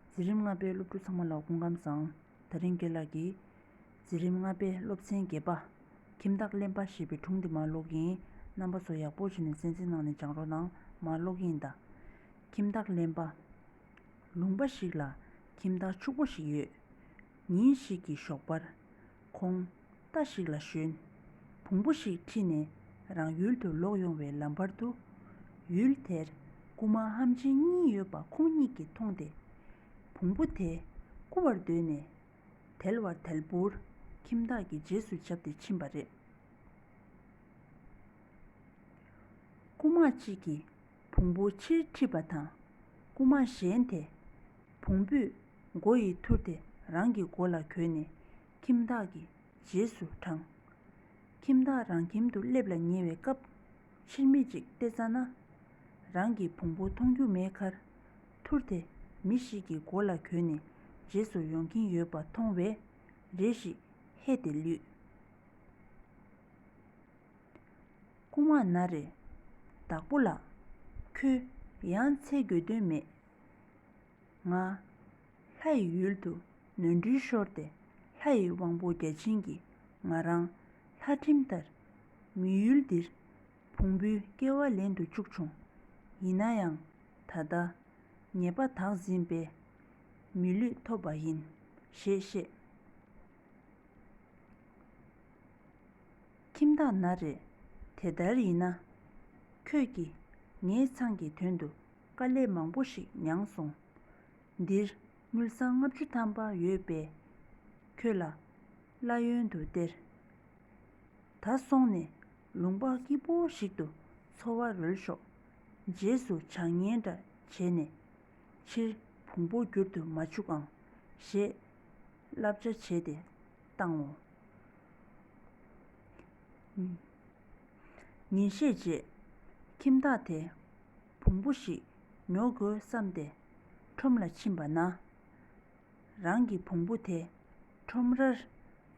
འཛིན་རིམ་ལྔ་པའི་སློབ་ཕྲུག་ཚང་མ་ལ་དགུང་ཁམས་བཟང། ད་རིང་དགེ་ལགས་ཀྱིས། འཛིན་རིམ་ལྔ་པའི་སློབ་ཚན་བརྒྱད་པ། ཁྱིམ་བདག་གླེན་པ་ཞེས་པའི་དྲུང་དེ་མར་ལོག་གིན། རྣམ་པ་ཚོ་ཡག་པོ་བྱས་ནས་གསན་གསན་གནང་ནས་སྦྱང་རོགས་གནང། མར་ལོག་གིན་གདའ། ཁྱིམ་བདག་གླེན་པ། ལུང་པ་ཞིག་ལ། ཁྱིམ་བདག་ཕྱུག་པོ་ཞིག་ཡོད། ཉིན་ཞིག་གི་ཞོགས་པར། ཁོང་རྟ་ཞིག་ལ་ཞོན། བོང་བུ་ཞིག་ཁྲིད་ནས་རང་ཡུལ་དུ་ལོག་ཡོང་བའི་ལམ་བར་དུ། ཡུལ་དེར་རྐུ་མ་ཧམ་ཆེན་གཉིས་ཡོད་པ་ཁོང་གཉིས་ཀྱིས་མཐོང་སྟེ། བོང་བུ་དེ་རྐུ་བར་འདོད་ནས། དལ་བར་དལ་བུར་ཁྱིམ་བདག་གི་རྗེས་སུ་བྱབས་ཏེ་ཕྱིན་པ་རེད། རྐུན་མ་གཅིག་གིས་བོང་བུ་ཕྱིར་ཁྲིད་པ་དང། རྐུ་མ་གཞན་དེས། བོང་བུས་མགོ་ཡི་ཐུར་དེ་རང་གི་མགོ་ལ་གྱོན་ནས་ཁྱིམ་བདག་གི་རྗེས་སུ་འབྲངས། ཁྱིམ་བདག་རང་ཁྱིམ་དུ་སླེབས་ལ་ཉེ་བའི་སྐབས་ཕྱིར་མི་གཅིག་བལྟས་ཙང་ན། རང་གི་བོང་བུ་མཐོང་རྒྱུ་མེད་ཁར། ཐུར་དེ་མི་ཞིག་གི་མགོ་ལ་གྱོན་ནས་རྗེས་སུ་ཡོང་གིན་ཡོད་པ་མཐོང་བས་རེ་ཞིག་ཧད་དེ་ལུས། རྐུན་མ་ན་རེ། བདག་པོ་ལགས། ཁྱོད་ཡང་འཚེ་དགོས་དོན་མེད། ང། ལྷ་ཡི་ཡུལ་དུ་ནོར་འཁྲུལ་ཤོར་ཏེ་ལྷ་ཡི་དབང་པོ་བརྒྱ་བྱིན་གྱིས་ང་རང་ལྷ་ཁྲིམས་ལྟར་མི་ཡུལ་འདིར་བོང་བུའི་སྐྱེ་བ་ལེན་དུ་བཅུག་བྱུང། ཡིན་ན་ཡང་ད་ལྟ་ཉེས་པ་དག་འཛིན་པས་མི་ལུས་ཐོབ་པ་ཡིན། ཞེས་བཤད། ཁྱིམ་བདག་ན་རེ། དེ་ལྟར་ཡིན་ན། ཁྱོད་ཀྱིས་ངའི་ཚང་གི་དོན་དུ་དཀའ་ལས་མང་པོ་ཞིག་མྱངས་སོང། འདིར་དངུལ་སྲང་ལྔ་བཅུ་ཐམ་པ་ཡོད་པས། ཁྱོད་ལ་གླ་ཡོན་དུ་སྟེར། ད་སོང་ནས་ལུང་པ་སྐྱིད་པོ་ཞིག་ཏུ་འཚོ་བ་རོལ་ཤོག། རྗེས་སུ་བྱ་ངན་འདྲ་བྱས་ནས། ཕྱིར་བུང་བུ་བསྒྱུར་དུ་མ་ཆུག་ཨང། ཞེས་བསླབ་བྱ་བྱས་ཏེ། བཏང་ངོ། ཉིན་ཤས་རྗེས། ཁྱིམ་བདག་དེས་བོང་བུ་ཞིག་ཉོ་དགོས་བསམས་ཏེ་ཁྲོམ་ལ་ཕྱིན་པ་ན། རང་གི་བོང་བུ་དེ་ཁྲོམ་རར་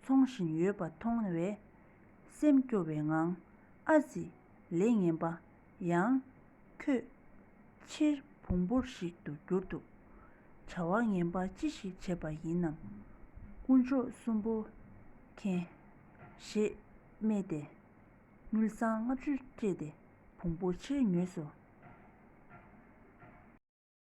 འཚོང་བཞིན་ཡོད་པ་མཐོང་བས། སེམས་སྐྱོ་བའི་ངང་ཨ་ཙི་ལས་ངན་པ་ཡང། ཁྱོད། ཕྱིར་བོང་བུ་ཞིག་ཏུ་གྱུར་འདུག། བྱ་བ་ངན་པ་ཅི་ཞིག་བྱས་པ་ཡིན་ནམ། དཀོན་མཆོག་གསུམ་པོ། མཁྱེན། ཞེས། སྨྲས་ཏེ། དངུལ་སྲང་ལྔ་བཅུ་སྤྲད་དེ་བོང་བུ་ཕྱིར་ཉོས་སོ།